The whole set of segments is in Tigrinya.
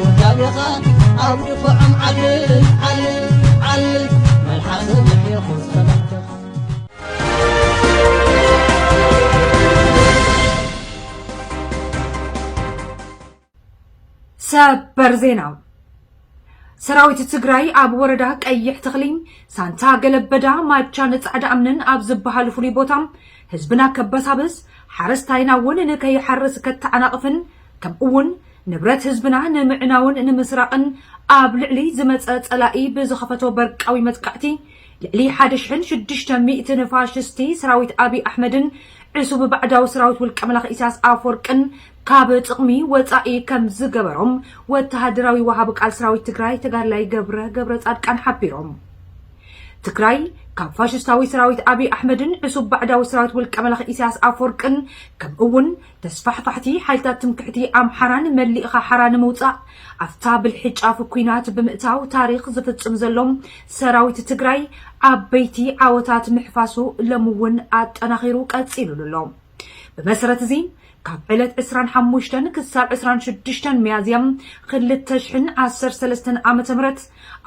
ውዳቤኻ ኣብ ድፋዖም ዓልል ዓልል ዓልል መልሓሰ ምሒኹ ጸላእትኻ ሰበር ዜና ሰራዊት ትግራይ ኣብ ወረዳ ቀይሕ ተኽሊ ሳንታ ገለበዳ ማቻን ጻዕዳ እምንን ኣብ ዝበሃሉ ፍሉይ ቦታ ህዝብና ከበሳብስ ሓረስታይና እውን ንከይሓርስ ከተዓናቕፍን ከምኡውን ንብረት ህዝብና ንምዕናውን ንምስራቕን ኣብ ልዕሊ ዝመጸ ጸላኢ ብዝኸፈቶ በርቃዊ መጥቃዕቲ ልዕሊ ሓደ ሽሕን ሽዱሽተ ሚእትን ፋሽስቲ ሰራዊት ኣቢይ ኣሕመድን ዕሱብ ባዕዳዊ ሰራዊት ውልቀ መላኺ ኢሳያስ ኣፍወርቅን ካብ ጥቕሚ ወጻኢ ከም ዝገበሮም ወተሃደራዊ ወሃቢ ቃል ሰራዊት ትግራይ ተጋድላይ ገብረ ገብረጻድቃን ሓቢሮም። ትግራይ ካብ ፋሽስታዊ ሰራዊት ኣቢይ ኣሕመድን ዕሱብ ባዕዳዊ ሰራዊት ውልቀ መላኺ ኢሳያስ ኣፍወርቅን ከምኡ'ውን ተስፋሕፋሕቲ ሓይልታት ትምክሕቲ ኣምሓራን መሊእኻ ሓራ ንምውጻእ ኣፍታ ብልሒ ጫፍ ኩናት ብምእታው ታሪኽ ዝፍጽም ዘሎ ሰራዊት ትግራይ ዓበይቲ ዓወታት ምሕፋሱ ሎሚ እውን ኣጠናኺሩ ቀጺሉሉ ኣሎ። ብመሰረት እዚ ካብ ዕለት ዕስራን ሓሙሽተን ክሳብ ዕስራን ሽዱሽተን ሚያዝያ ክልተ ሽሕን ዓሰርተ ሰለስተን ዓመተ ምህረት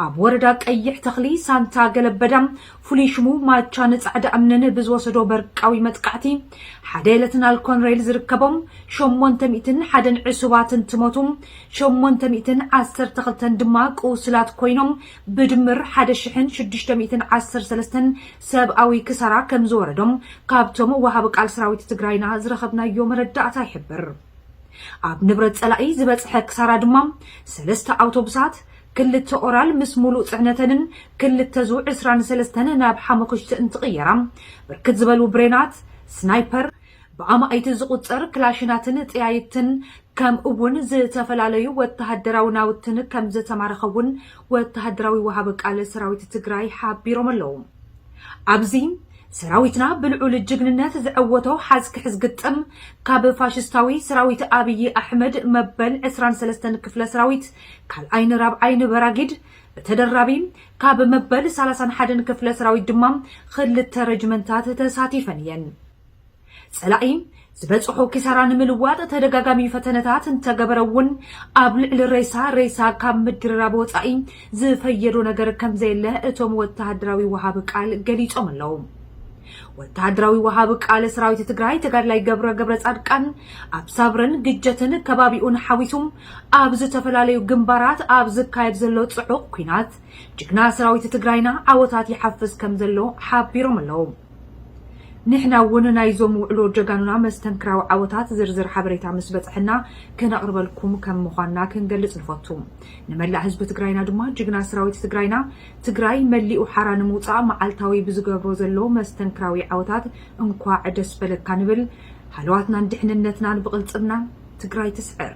ኣብ ወረዳ ቀይሕ ተኽሊ ሳንታ ገለበዳ ፍሉይ ሽሙ ማቻ ንፃዕዳ እምንን ብዝወሰዶ በርቃዊ መጥቃዕቲ ሓደ ለትናል ኮንሬል ዝርከቦም ሸሞንተ ሚእትን ሓደን ዕሱባት እንትሞቱ ሸሞንተ ሚእትን ዓሰርተ ክልተን ድማ ቁስላት ኮይኖም ብድምር ሓደ ሽሕን ሽዱሽተ ሚእትን ዓሰርተ ሰለስተን ሰብኣዊ ክሳራ ከም ዝወረዶም ካብቶም ወሃቢ ቃል ሰራዊት ትግራይና ዝረኸብናዮ መረዳእታ ይሕብር። ኣብ ንብረት ጸላኢ ዝበጽሐ ክሳራ ድማ ሰለስተ ኣውቶቡሳት፣ ክልተ ኦራል ምስ ሙሉእ ጽዕነተንን ክልተ ዙ ዕስራን ሰለስተን ናብ ሓሞኽሽቲ እንትቕየራ፣ ብርክት ዝበሉ ብሬናት፣ ስናይፐር፣ ብኣማኢት ዝቑጸር ክላሽናትን ጠያይትን ከምኡ'ውን ዝተፈላለዩ ወተሃደራዊ ናውትን ከምዝተማረኸ'ውን ወተሃደራዊ ወሃቢ ቃል ሰራዊት ትግራይ ሓቢሮም ኣለው። ኣብዚ ሰራዊትና ብልዑል ጅግንነት ዘዐወቶ ሓዝ ክሕዝ ግጥም ካብ ፋሽስታዊ ሰራዊት ኣብዪ ኣሕመድ መበል ዕስራን ሰለስተን ክፍለ ሰራዊት ካልኣይን ራብዓይን በራጊድ ብተደራቢ ካብ መበል ሳላሳን ሓደን ክፍለ ሰራዊት ድማ ኽልተ ረጅመንታት ተሳቲፈን እየን። ጸላኢ ዝበጽሖ ኪሳራ ንምልዋጥ ተደጋጋሚ ፈተነታት እንተገበረ እውን ኣብ ልዕሊ ሬሳ ሬሳ ካብ ምድርራብ ወጻኢ ዝፈየዶ ነገር ከም ዘየለ እቶም ወተሃደራዊ ወሃቢ ቃል ገሊጾም ኣለዉ። ወተሃደራዊ ወሃቢ ቃል ሰራዊት ትግራይ ተጋድላይ ገብረ ገብረ ጻድቃን ኣብ ሳብረን ግጀትን ከባቢኡን ሓዊሱ ኣብ ዝተፈላለዩ ግንባራት ኣብ ዝካየድ ዘሎ ጽዑቕ ኲናት ጅግና ሰራዊት ትግራይና ዓወታት ይሓፍስ ከም ዘሎ ሓቢሮም ኣለዉ። ንሕና እውን ናይዞም ውዕሎ ጀጋኑና መስተንክራዊ ዓወታት ዝርዝር ሓበሬታ ምስ በፀሐና ክነቕርበልኩም ከም ምዃንና ክንገልፅ ንፈቱ። ንመላእ ህዝቢ ትግራይና ድማ ጅግና ሰራዊት ትግራይና ትግራይ መሊኡ ሓራ ንምውፃእ መዓልታዊ ብዝገብሮ ዘሎ መስተንክራዊ ዓወታት እንኳዕ ደስ በለካ ንብል። ሃለዋትናን ድሕንነትናን ብቕልፅምና ትግራይ ትስዕር!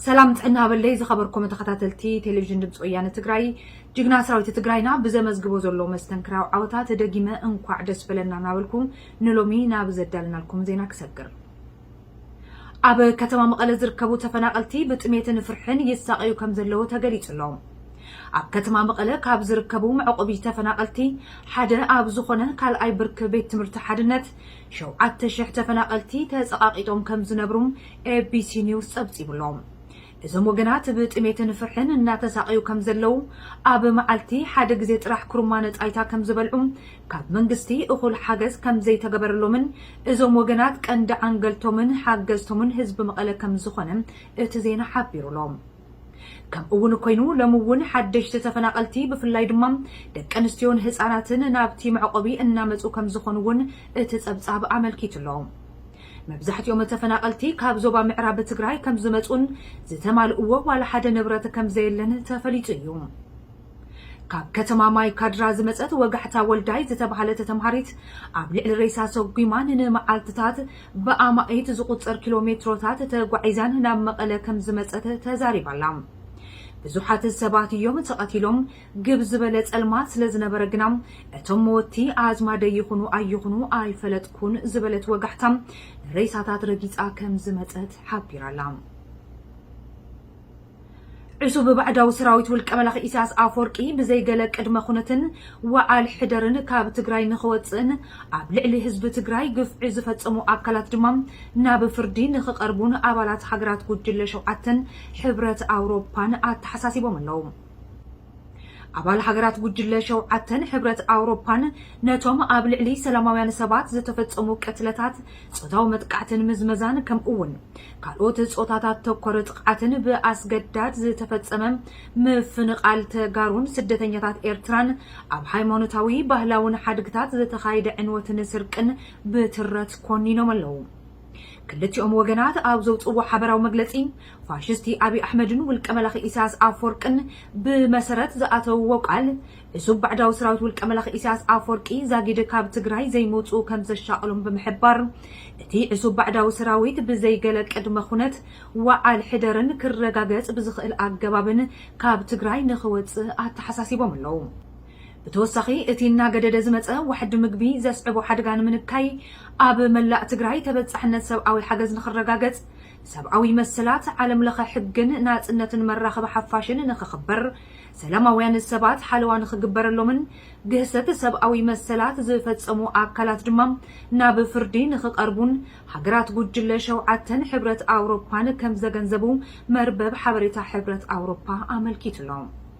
ሰላም ጥዕና በለይ ዝኸበርኩም ተኸታተልቲ ቴሌቪዥን ድምፂ ወያነ ትግራይ ጅግና ሰራዊት ትግራይና ብዘመዝግቦ ዘሎ መስተንክራዊ ዓወታ ተደጊመ እንኳዕ ደስ በለና እናበልኩ ንሎሚ ናብ ዘዳልናልኩም ዜና ክሰግር ኣብ ከተማ መቐለ ዝርከቡ ተፈናቐልቲ ብጥሜትን ፍርሕን ይሳቐዩ ከም ዘለዉ ተገሊጹ ኣሎ። ኣብ ከተማ መቐለ ካብ ዝርከቡ መዕቆቢ ተፈናቐልቲ ሓደ ኣብ ዝኾነ ካልኣይ ብርኪ ቤት ትምህርቲ ሓድነት ሸውዓተ ሽሕ ተፈናቐልቲ ተጸቓቒጦም ከም ዝነብሩም ኤቢሲ ኒውስ ጸብጺቡ ኣሎ። እዞም ወገናት ብ ጥሜትን ፍርሕን እናተሳቐዩ ከም ዘለዉ፣ ኣብ መዓልቲ ሓደ ግዜ ጥራሕ ኩርማነ ጣይታ ከም ዝበልዑ፣ ካብ መንግስቲ እኹል ሓገዝ ከም ዘይተገበረሎምን እዞም ወገናት ቀንዲ ዓንገልቶምን ሓገዝቶምን ህዝቢ መቐለ ከም ዝኾነ እቲ ዜና ሓቢሩ'ሎ። ከምኡ እውን ኮይኑ ሎሚ እውን ሓደሽቲ ተፈናቐልቲ ብፍላይ ድማ ደቂ ኣንስትዮን ህፃናትን ናብቲ መዕቖቢ እናመፁ ከም ዝኾኑ እውን እቲ ፀብፃብ ኣመልኪቱ'ሎ። መብዛሕቲኦም ተፈናቐልቲ ካብ ዞባ ምዕራብ ትግራይ ከምዝመፁን ዝተማልእዎ ዋላ ሓደ ንብረት ከምዘየለን ተፈሊጡ እዩ። ካብ ከተማ ማይ ካድራ ዝመፀት ወጋሕታ ወልዳይ ዝተብሃለት ተምሃሪት ኣብ ልዕሊ ሬሳ ሰጒማ ንንመዓልትታት ብኣማኢት ዝቑፀር ኪሎ ሜትሮታት ተጓዒዛን ናብ መቐለ ከምዝመፀት ተዛሪባ'ላ። ብዙሓት ሰባት እዮም ተቐቲሎም፣ ግብ ዝበለ ጸልማት ስለ ዝነበረ ግና፣ እቶም መወትቲ ኣዝማደይ ይኹኑ ኣይኹኑ ኣይፈለጥኩን ዝበለት ወጋሕታ፣ ንሬሳታት ረጊጻ ከም ዝመጸት ሓቢራ'ላ። ዕሱብ ባዕዳዊ ሰራዊት ውልቀ-መላኺ ኢሳያስ ኣፍወርቂ ብዘይ ገለ ቅድመ-ኩነትን ወዓል ሕደርን ካብ ትግራይ ንኽወጽእን ኣብ ልዕሊ ህዝቢ ትግራይ ግፍዒ ዝፈጸሙ ኣካላት ድማ ናብ ፍርዲ ንኽቐርቡን ኣባላት ሃገራት ጉጅለ ሸውዓተን ሕብረት ኣውሮፓን ኣተሓሳሲቦም ኣለዉ። ኣባል ሃገራት ጉጅለ ሸውዓተን ሕብረት ኣውሮፓን ነቶም ኣብ ልዕሊ ሰላማውያን ሰባት ዝተፈጸሙ ቅትለታት፣ ጾታዊ መጥቃዕትን ምዝመዛን ከምኡ'ውን ካልኦት ጾታታት ተኮር ጥቕዓትን ብኣስገዳድ ዝተፈጸመ ምፍንቓል ተጋሩን ስደተኛታት ኤርትራን ኣብ ሃይማኖታዊ ባህላውን ሓድግታት ዝተኻይደ ዕንወትን ስርቅን ብትረት ኮኒኖም ኣለዉ። ክልቲኦም ወገናት ኣብ ዘውጽእዎ ሓበራዊ መግለጺ፣ ፋሽስቲ ኣብይ ኣሕመድን ውልቀ መላኺ ኢሳያስ ኣፍወርቅን ብመሰረት ዝኣተውዎ ቃል፣ ዕሱብ ባዕዳዊ ሰራዊት ውልቀ መላኺ ኢሳያስ ኣፍወርቂ ዛጊድ ካብ ትግራይ ዘይምውጽኡ ከምዘሻቕሎም ብምሕባር፣ እቲ ዕሱብ ባዕዳዊ ሰራዊት ብዘይ ገለ ቅድመ ኩነት ወዓል ሕደርን ክረጋገጽ ብዝኽእል ኣገባብን ካብ ትግራይ ንኽወጽእ ኣተሓሳሲቦም ኣለዉ። ብተወሳኺ እቲ እናገደደ ዝመፀ ዋሕዲ ምግቢ ዘስዕቦ ሓድጋ ንምንካይ ኣብ መላእ ትግራይ ተበፃሕነት ሰብኣዊ ሓገዝ ንኽረጋገፅ፣ ሰብኣዊ መሰላት፣ ዓለም ለኸ ሕግን ናፅነትን መራኸቢ ሓፋሽን ንኽኽበር፣ ሰላማውያን ሰባት ሓለዋ ንኽግበረሎምን ግህሰት ሰብኣዊ መሰላት ዝፈፀሙ ኣካላት ድማ ናብ ፍርዲ ንኽቐርቡን ሃገራት ጉጅለ ሸውዓተን ሕብረት ኣውሮፓን ከምዘገንዘቡ መርበብ ሓበሬታ ሕብረት ኣውሮፓ ኣመልኪቱ'ሎ።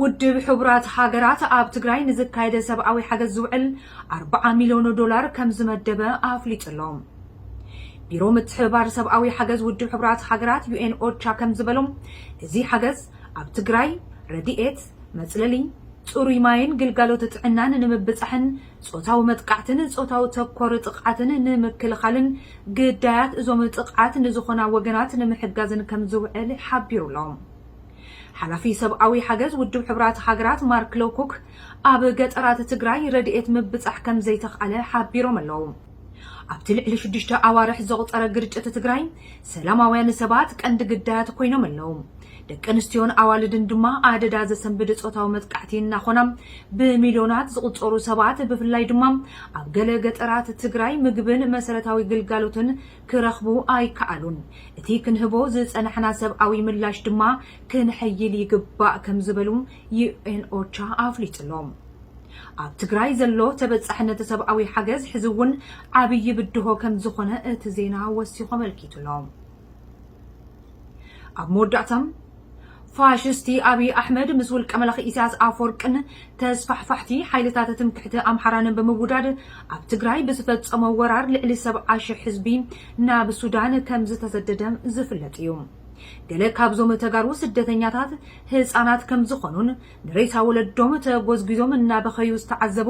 ውድብ ሕቡራት ሃገራት ኣብ ትግራይ ንዝካየደ ሰብኣዊ ሓገዝ ዝውዕል ኣርባዓ ሚልዮን ዶላር ከምዝመደበ ኣፍሊጡ ኣሎ። ቢሮ ምትሕብባር ሰብኣዊ ሓገዝ ውድብ ሕቡራት ሃገራት፣ ዩኤን ኦቻ፣ ከምዝበሎ እዚ ሓገዝ ኣብ ትግራይ ረድኤት፣ መፅለሊ፣ ፅሩይ ማይን ግልጋሎት ጥዕናን ንምብፃሕን ፆታዊ መጥቃዕትን ፆታዊ ተኮር ጥቕዓትን ንምክልኻልን ግዳያት እዞም ጥቕዓት ንዝኾና ወገናት ንምሕጋዝን ከምዝውዕል ሓቢሩ ኣሎ። ሓላፊ ሰብኣዊ ሓገዝ ውድብ ሕቡራት ሃገራት ማርክ ሎውኩክ ኣብ ገጠራት ትግራይ ረድኤት ምብጻሕ ከምዘይተኽኣለ ሓቢሮም ኣለው። ኣብቲ ልዕሊ ሽዱሽተ ኣዋርሕ ዘቑጸረ ግርጭት ትግራይ ሰላማውያን ሰባት ቀንዲ ግዳያት ኮይኖም ኣለው። ደቂ ኣንስትዮን ኣዋልድን ድማ ኣደዳ ዘሰንብድ ጾታዊ መጥቃዕቲ እናኾና ብሚልዮናት ዝቑጸሩ ሰባት ብፍላይ ድማ ኣብ ገለ ገጠራት ትግራይ ምግብን መሰረታዊ ግልጋሎትን ክረኽቡ ኣይከኣሉን። እቲ ክንህቦ ዝጸናሕና ሰብኣዊ ምላሽ ድማ ክነሐይል ይግባእ ከም ዝበሉ ዩኤን ኦቻ ኣፍሊጡ'ሎ። ኣብ ትግራይ ዘሎ ተበጻሕነት ሰብኣዊ ሓገዝ ሕዚ'ውን ዓብዪ ብድሆ ከም ዝኾነ እቲ ዜና ወሲኹ ኣመልኪቱ'ሎ። ኣብ መወዳእታ። ፋሽስቲ ኣብይ ኣሕመድ ምስ ውልቀመላኺ ኢሳያስ ኣፍወርቅን ተስፋሕፋሕቲ ሓይልታት ትምክሕቲ ኣምሓራንን ብምውዳድ ኣብ ትግራይ ብዝፈጸሞ ወራር ልዕሊ ሰብዓ ሽሕ ህዝቢ ናብ ሱዳን ከምዝተሰደደ ዝፍለጥ እዩ። ገለ ካብዞም ተጋሩ ስደተኛታት ህጻናት ከምዝኾኑን ንሬሳ ወለዶም ተጎዝጒዞም እናበኸዩ ዝተዓዘቡ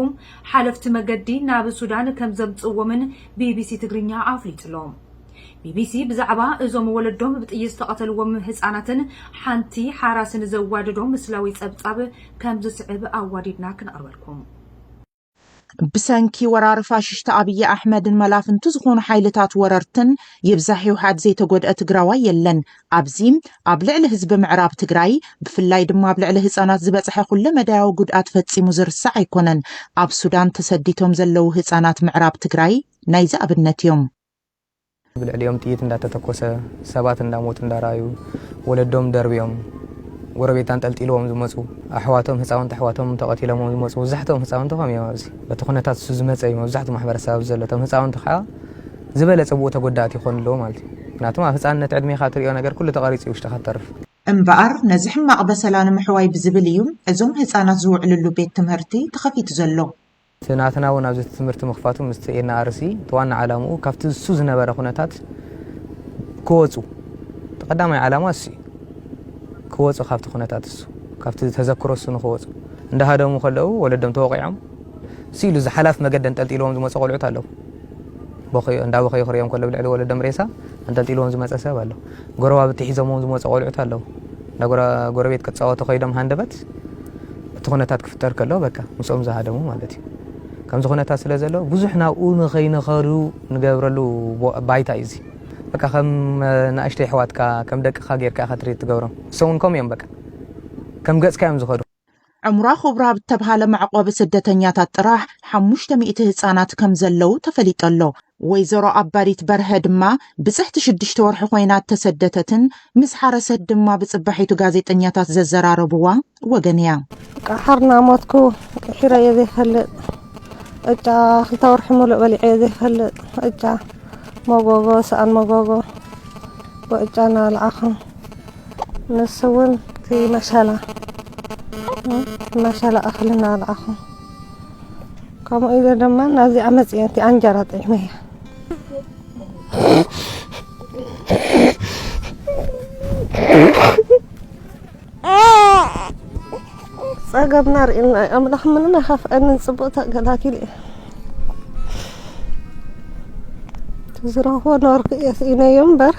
ሓለፍቲ መገዲ ናብ ሱዳን ከምዘምጽእዎምን ቢቢሲ ትግርኛ ኣፍሊጡ'ሎ። ቢቢሲ ብዛዕባ እዞም ወለዶም ብጥይት ዝተቐተልዎም ህጻናትን ሓንቲ ሓራስን ዘዋደዶ ምስላዊ ጸብጻብ ከም ዝስዕብ ኣዋዲድና ክነቕርበልኩም። ብሰንኪ ወራር ፋሽሽቲ ኣብይ ኣሕመድን መላፍንቱ ዝኾኑ ሓይልታት ወረርትን ይብዛሕ ይውሓድ ዘይተጎድኣ ትግራዋይ የለን። ኣብዚ ኣብ ልዕሊ ህዝቢ ምዕራብ ትግራይ ብፍላይ ድማ ኣብ ልዕሊ ህፃናት ዝበፅሐ ኩለ መዳያዊ ጉድኣት ፈፂሙ ዝርሳዕ ኣይኮነን። ኣብ ሱዳን ተሰዲቶም ዘለዉ ህፃናት ምዕራብ ትግራይ ናይዚ ኣብነት እዮም። ብልዕሊኦም ጥይት እንዳተተኮሰ ሰባት እንዳሞቱ እንዳረኣዩ ወለዶም ደርብዮም ጎረቤት ኣንጠልጢልዎም ዝመፁ ኣሕዋቶም ህፃውንቲ ኣሕዋቶም ተቐቲሎምዎም ዝመፁ መብዛሕትኦም ህፃውንቲ ከም እዮም ኣብዚ በቲ ኩነታት እሱ ዝመፀ እዩ መብዛሕትኡ ማሕበረሰብ ኣብዚ ዘሎ እቶም ህፃውንቲ ከዓ ዝበለፀ ብኡ ተጎዳእቲ ይኾኑ ኣለዎ ማለት እዩ ምክንያቱም ኣብ ህፃንነት ዕድሜኻ ትሪኦ ነገር ኩሉ ተቐሪፁ እዩ ውሽጥኻ ትተርፍ እምበኣር ነዚ ሕማቕ በሰላ ንምሕዋይ ብዝብል እዩ እዞም ህፃናት ዝውዕልሉ ቤት ትምህርቲ ተኸፊቱ ዘሎ። እቲ ናትና ውን ኣብዚ ትምህርቲ ምኽፋቱ ምስቲ NRC እቲ ዋና ዓላምኡ ካብቲ እሱ ዝነበረ ኩነታት ክወጹ እቲ ቀዳማይ ዓላማ እሱ እዩ ክወጹ ካብቲ ኩነታት እሱ ካብቲ ተዘክሮ እሱ ንክወጹ እንዳሃደሙ ከለዉ ወለዶም ተወቂዖም እሱ ኢሉ ዝሓላፍ መገዲ ኣንጠልጢልዎም ዝመጹ ቆልዑት ኣለዉ እንዳበኸዩ ክሪኦም ከለዉ ልዕሊ ወለዶም ሬሳ ኣንጠልጢልዎም ዝመጸ ሰብ ኣሎ ጎረባብቲ ሒዞምዎም ዝመጹ ቆልዑት ኣለዉ እንዳ ጎረቤት ክጻወቱ ከይዶም ሃንደበት እቲ ኩነታት ክፍጠር ከሎ በቃ ምስኦም ዝሃደሙ ማለት እዩ ከምዚ ኩነታት ስለ ዘሎ ብዙሕ ናብኡ ንኸይንኸዱ ንገብረሉ ባይታ እዩ እዚ በቃ ከም ንእሽተይ ኣሕዋትካ ከም ደቅኻ ጌርካ ኢኻ ትሪት ትገብሮም ንሶም እውን ከምኡ እዮም በቃ ከም ገጽካ እዮም ዝኸዱ ዕምራ ኩብራ ኣብ እተብሃለ መዕቆቢ ስደተኛታት ጥራሕ ሓሙሽተ ሚእቲ ህጻናት ከም ዘለዉ ተፈሊጡ ኣሎ። ወይዘሮ ኣባዲት በርሀ ድማ ብጽሕቲ ሽዱሽተ ወርሒ ኮይና እተሰደተትን ምስ ሓረሰት ድማ ብጽባሒቱ ጋዜጠኛታት ዘዘራረብዋ ወገን እያ። ቀሓር እናሞትኩ ቂሒረዮ ዘይፈልጥ ቅጫ ክልተ ወርሒ ሙሉእ በሊዐዮ ዘይፈልጥ ቅጫ መጎጎ ሰኣን መጎጎ ብቅጫ እናበላዕኹ ንሱውን እቲ መሸላ መሸላ እኽሊ እናበልዓኹ ከምኡ ኢለ ድማ ናብዚኣ መፅየ እቲ ኣንጀራ ጠዒመያ ጸገብና ርኢና እዩ ኣምላኽ ምንም ኣይኸፍኣንን ጽቡቕ ተገላጊለ እየ ዝረኽቦ ነበርኩ እየ ስኢነዮ እምበር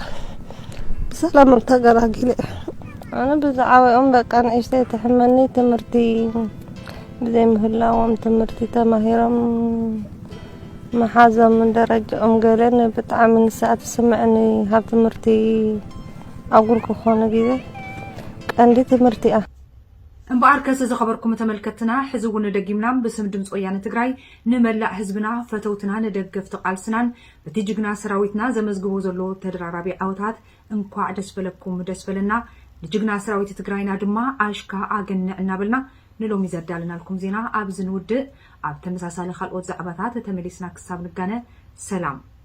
ብሰላም እም ተገላጊለ እየ ኣነ ብዛዕባኦም በቃ ንእሽተይ ትሕመኒ ትምህርቲ ብዘይምህላዎም ትምህርቲ ተማሂሮም መሓዞም ደረጃኦም ገለን ብጣዕሚ ንስኣ ትስምዐኒ ካብ ትምህርቲ ኣጉል ክኾኑ ግዜ ቀንዲ ትምህርቲ እያ እምበኣርከስ ዝኸበርኩም ተመልከትትና ሕዚ እውን ደጊምና ብስም ድምፂ ወያነ ትግራይ ንመላእ ህዝብና፣ ፈተውትናን ደገፍቲ ቃልስናን በቲ ጅግና ሰራዊትና ዘመዝግቦ ዘሎ ተደራራቢ ዓወታት እንኳዕ ደስ በለኩም ደስ በለና ንጅግና ሰራዊት ትግራይና ድማ ኣሽካ ኣገንዕ እናበልና ንሎሚ ዘዳለናልኩም ዜና ኣብዚ ንውድእ ኣብ ተመሳሳሊ ካልኦት ዛዕባታት ተመሊስና ክሳብ ንጋነ ሰላም